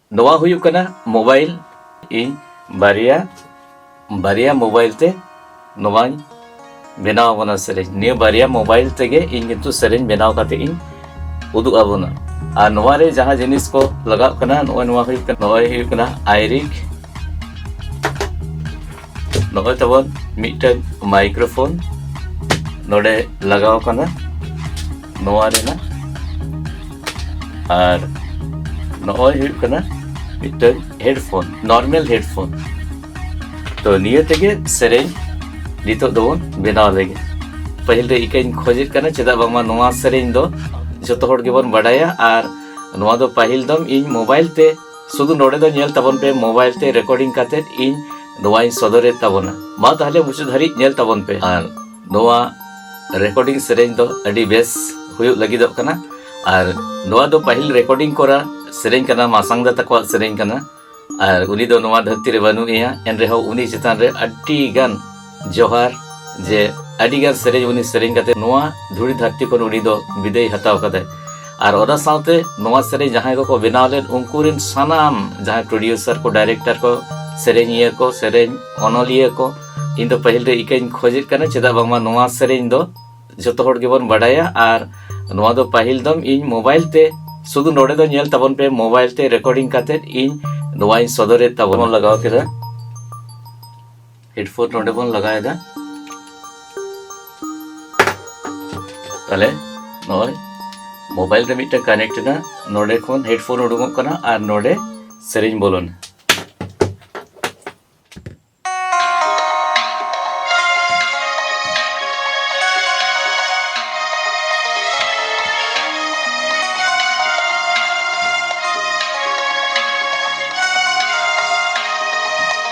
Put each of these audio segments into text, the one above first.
ᱱᱚᱣᱟ ᱦᱩᱭᱩᱜ ᱠᱟᱱᱟ ᱢᱳᱵᱟᱭᱤᱞ ᱤᱧ ᱵᱟᱨᱭᱟ ᱵᱟᱨᱭᱟ ᱢᱳᱵᱟᱭᱤᱞ ᱛᱮ ᱱᱚᱣᱟᱧ ᱵᱮᱱᱟᱣ ᱟᱵᱚᱱᱟ ᱥᱮᱨᱮᱧ ᱱᱤᱭᱟᱹ ᱵᱟᱨᱭᱟ ᱢᱳᱵᱟᱭᱤᱞ ᱛᱮᱜᱮ ᱤᱧ ᱠᱤᱱᱛᱩ ᱥᱮᱨᱮᱧ ᱵᱮᱱᱟᱣ ᱠᱟᱛᱮ ᱤᱧ ᱩᱫᱩᱜ ᱟᱵᱚᱱᱟ ᱟᱨ ᱱᱚᱣᱟ ᱨᱮ ᱡᱟᱦᱟᱸ ᱡᱤᱱᱤᱥ ᱠᱚ ᱞᱟᱜᱟᱜ ᱠᱟᱱᱟ ᱱᱚᱜᱼᱚᱭ ᱱᱚᱣᱟ ᱦᱩᱭᱩᱜ ᱠᱟᱱᱟ ᱱᱚᱜᱼᱚᱭ ᱦᱩᱭᱩᱜ ᱠᱟᱱᱟ ᱟᱭᱨᱤᱠ ᱱᱚᱜᱼᱚᱭ ᱛᱟᱵᱚᱱ ᱢᱤᱫᱴᱟᱝ ᱢᱟᱭᱠᱨᱳᱯᱷᱳᱱ ᱱᱚᱰᱮ ᱞᱟᱜᱟᱣ ᱠᱟᱱᱟ ᱱᱚᱣᱟ ᱨᱮᱱᱟᱜ ᱟᱨ ᱱᱚᱜᱼᱚᱭ ᱦᱩᱭᱩᱜ ᱠᱟᱱᱟ ᱢᱤᱫᱴᱟᱝ ᱦᱮᱰᱯᱷᱳᱱ ᱱᱚᱨᱢᱮᱞ ᱦᱮᱰᱯᱷᱳᱱ ᱛᱚ ᱱᱤᱭᱟᱹ ᱛᱮᱜᱮ ᱥᱮᱨᱮᱧ ᱱᱤᱛᱚᱜ ᱫᱚᱵᱚᱱ ᱵᱮᱱᱟᱣ ᱞᱮᱜᱮ ᱯᱟᱹᱦᱤᱞ ᱨᱮ ᱤᱠᱟᱹᱧ ᱠᱷᱚᱡᱮᱫ ᱠᱟᱱᱟ ᱪᱮᱫᱟᱜ ᱵᱟᱝᱢᱟ ᱱᱚᱣᱟ ᱥᱮᱨᱮᱧ ᱫᱚ ᱡᱚᱛᱚ ᱦᱚᱲ ᱜᱮᱵᱚᱱ ᱵᱟᱰᱟᱭᱟ ᱟᱨ ᱱᱚᱣᱟ ᱫᱚ ᱯᱟᱹᱦᱤᱞ ᱫᱚᱢ ᱤᱧ ᱢᱳᱵᱟᱭᱤᱞ ᱛᱮ ᱥᱩᱫᱷᱩ ᱱᱚᱰᱮ ᱫᱚ ᱧᱮᱞ ᱛᱟᱵᱚᱱ ᱯᱮ ᱢᱳᱵᱟᱭᱤᱞ ᱛᱮ ᱨᱮᱠᱚᱨᱰᱤᱝ ᱠᱟᱛᱮ ᱤᱧ ᱱᱚᱣᱟᱧ ᱥᱚᱫᱚᱨᱮᱫ ᱛᱟᱵᱚᱱᱟ ᱢᱟ ᱛᱟᱦᱞᱮ ᱢᱩᱪᱟᱹᱫ ᱫᱷᱟᱹᱨᱤᱡ ᱧᱮᱞ ᱛᱟᱵᱚᱱ ᱯᱮ ᱟᱨ ᱱᱚᱣᱟ ᱨᱮᱠᱚᱨᱰᱤᱝ ᱥᱮᱨᱮᱧ ᱫᱚ ᱟᱹᱰᱤ ᱵᱮᱥ ᱦᱩᱭᱩᱜ ᱞᱟᱹᱜᱤᱫᱚᱜ ᱠᱟᱱᱟ ᱟᱨ ᱱᱚᱣᱟ ᱫᱚ ᱯᱟᱹᱦᱤᱞ ᱨᱮᱠᱚᱨᱰᱤᱝ ᱠᱚᱨᱟ ᱥᱮᱨᱮᱧ ᱠᱟᱱᱟ ᱢᱟᱥᱟᱝ ᱫᱟ ᱛᱟᱠᱚᱣᱟᱜ ᱥᱮᱨᱮᱧ ᱠᱟᱱᱟ ᱟᱨ ᱩᱱᱤ ᱫᱚ ᱱᱚᱣᱟ ᱫᱷᱟᱹᱨᱛᱤ ᱨᱮ ᱵᱟᱹᱱᱩᱜ ᱮᱭᱟ ᱮᱱᱨᱮᱦᱚᱸ ᱩᱱᱤ ᱪᱮᱛᱟᱱ ᱨᱮ ᱟᱹᱰᱤ ᱜᱟᱱ ᱡᱚᱦᱟᱨ ᱡᱮ ᱟᱹᱰᱤᱜᱟᱱ ᱥᱮᱨᱮᱧ ᱩᱱᱤ ᱥᱮᱨᱮᱧ ᱠᱟᱛᱮ ᱱᱚᱣᱟ ᱫᱷᱩᱲᱤ ᱫᱷᱟᱹᱨᱛᱤ ᱠᱷᱚᱱ ᱩᱱᱤ ᱫᱚ ᱵᱤᱫᱟᱹᱭ ᱦᱟᱛᱟᱣ ᱠᱟᱫᱟᱭ ᱟᱨ ᱚᱱᱟ ᱥᱟᱶᱛᱮ ᱱᱚᱣᱟ ᱥᱮᱨᱮᱧ ᱡᱟᱦᱟᱸᱭ ᱠᱚᱠᱚ ᱵᱮᱱᱟᱣ ᱞᱮᱱ ᱩᱱᱠᱩ ᱨᱮᱱ ᱥᱟᱱᱟᱢ ᱡᱟᱦᱟᱸᱭ ᱯᱨᱚᱰᱭᱩᱥᱟᱨ ᱠᱚ ᱰᱟᱭᱨᱮᱠᱴᱟᱨ ᱠᱚ ᱥᱮᱨᱮᱧᱤᱭᱟᱹ ᱠᱚ ᱥᱮᱨᱮᱧ ᱚᱱᱚᱞᱤᱭᱟᱹ ᱠᱚ ᱤᱧ ᱫᱚ ᱯᱟᱹᱦᱤᱞ ᱨᱮ ᱤᱠᱟᱹᱧ ᱠᱷᱚᱡᱮᱫ ᱠᱟᱱᱟ ᱪᱮᱫᱟᱜ ᱵᱟᱝᱢᱟ ᱱᱚᱣᱟ ᱥᱮᱨᱮᱧ ᱫᱚ ᱡᱚᱛᱚ ᱦᱚᱲ ᱜᱮᱵᱚᱱ ᱵᱟᱰᱟᱭᱟ ᱟᱨ ᱱᱚᱣᱟ ᱫᱚ ᱯᱟᱹᱦᱤᱞ ᱫᱚᱢ ᱤᱧ ᱢᱳᱵᱟᱭᱤᱞ ᱛᱮ ᱥᱩᱫᱷᱩ ᱱᱚᱰᱮ ᱫᱚ ᱧᱮᱞ ᱛᱟᱵᱚᱱ ᱯᱮ ᱢᱳᱵᱟᱭᱤᱞ ᱛᱮ ᱨᱮᱠᱚᱨᱰᱤᱝ ᱠᱟᱛᱮ ᱤᱧ ᱱᱚᱣᱟᱧ ᱥᱚᱫᱚᱨᱮᱫ ᱛᱟᱵᱚᱱ ᱞᱟᱜᱟᱣ ᱠᱮᱫᱟ ᱦᱮᱰᱯᱷᱳᱱ ᱱᱚᱰᱮ ᱵᱚᱱ ᱞᱟᱜᱟᱣᱮᱫᱟ ᱛᱟᱦᱞᱮ ᱱᱚᱜᱼᱚᱭ ᱢᱳᱵᱟᱭᱤᱞ ᱨᱮ ᱢᱤᱫᱴᱮᱱ ᱠᱟᱱᱮᱠᱴ ᱮᱱᱟ ᱱᱚᱰᱮ ᱠᱷᱚᱱ ᱦᱮᱰᱯᱷᱳᱱ ᱩᱰᱩᱠᱚᱜ ᱠᱟᱱᱟ ᱟᱨ ᱱᱚᱰᱮ ᱥᱮᱨᱮᱧ ᱵᱚᱞᱚᱱᱟ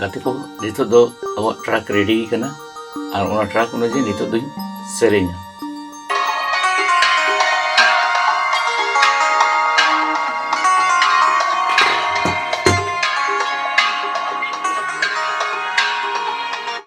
ᱜᱟᱛᱮ ᱠᱚ ᱱᱤᱛᱚᱜ ᱫᱚ ᱟᱵᱚᱣᱟᱜ ᱴᱨᱟᱠ ᱨᱮᱰᱤ ᱠᱟᱱᱟ ᱟᱨ ᱚᱱᱟ ᱴᱨᱟᱠ ᱚᱱᱩᱡᱟᱭᱤ ᱱᱤᱛᱚᱜ ᱫᱚᱧ ᱥᱮᱨᱮᱧᱟ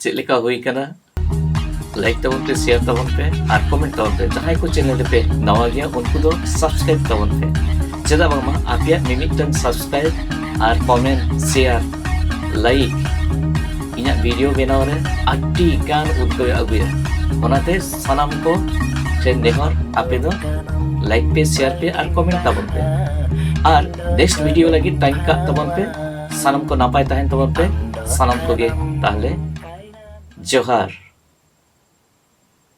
ᱪᱮᱫ ᱞᱮᱠᱟ ᱦᱩᱭ ᱠᱟᱱᱟ ᱞᱟᱭᱤᱠ ᱛᱟᱵᱚᱱ ᱯᱮ ᱥᱮᱭᱟᱨ ᱛᱟᱵᱚᱱ ᱯᱮ ᱟᱨ ᱠᱚᱢᱮᱱᱴ ᱛᱟᱵᱚᱱ ᱯᱮ ᱡᱟᱦᱟᱸᱭ ᱠᱚ ᱪᱮᱱᱮᱞ ᱨᱮᱯᱮ ᱱᱟᱣᱟ ᱜᱮᱭᱟ ᱩᱱᱠᱩ ᱫᱚ ᱥᱟᱵᱥᱠᱨᱟᱭᱤᱵ ᱛᱟᱵᱚᱱ ᱯᱮ ᱪᱮᱫᱟᱜ ᱵᱟᱝᱢᱟ ᱟᱯᱮᱭᱟᱜ ᱢᱤᱢᱤᱫᱴᱟᱝ ᱥᱟᱵᱥᱠᱨᱟᱭᱤᱵ ᱟᱨ ᱠᱚᱢᱮᱱᱴ ᱥᱮᱭᱟᱨ ᱞᱟᱭᱤᱠ ᱤᱧᱟᱹᱜ ᱵᱷᱤᱰᱤᱭᱳ ᱵᱮᱱᱟᱣ ᱨᱮ ᱟᱹᱰᱤ ᱜᱟᱱ ᱩᱫᱽᱜᱟᱹᱣ ᱟᱹᱜᱩᱭᱟ ᱚᱱᱟᱛᱮ ᱥᱟᱱᱟᱢ ᱠᱚ ᱴᱷᱮᱱ ᱱᱮᱦᱚᱨ ᱟᱯᱮ ᱫᱚ ᱞᱟᱭᱤᱠ ᱯᱮ ᱥᱮᱭᱟᱨ ᱯᱮ ᱟᱨ ᱠᱚᱢᱮᱱᱴ ᱛᱟᱵᱚᱱ ᱯᱮ ᱟᱨ ᱱᱮᱠᱥᱴ ᱵᱷᱤᱰᱤᱭᱳ ᱞᱟᱹᱜᱤᱫ ᱴᱟᱭᱤᱢ ᱠᱟᱜ ᱛᱟᱵᱚᱱ ᱯᱮ ᱥᱟᱱᱟᱢ ᱠᱚ ᱱᱟᱯᱟᱭ ᱛᱟᱦᱮᱱ ᱛᱟᱵᱚᱱ ᱯᱮ ᱥᱟᱱᱟᱢ ᱠᱚᱜᱮ ᱛᱟᱦᱞᱮ ᱡᱚᱦᱟᱨ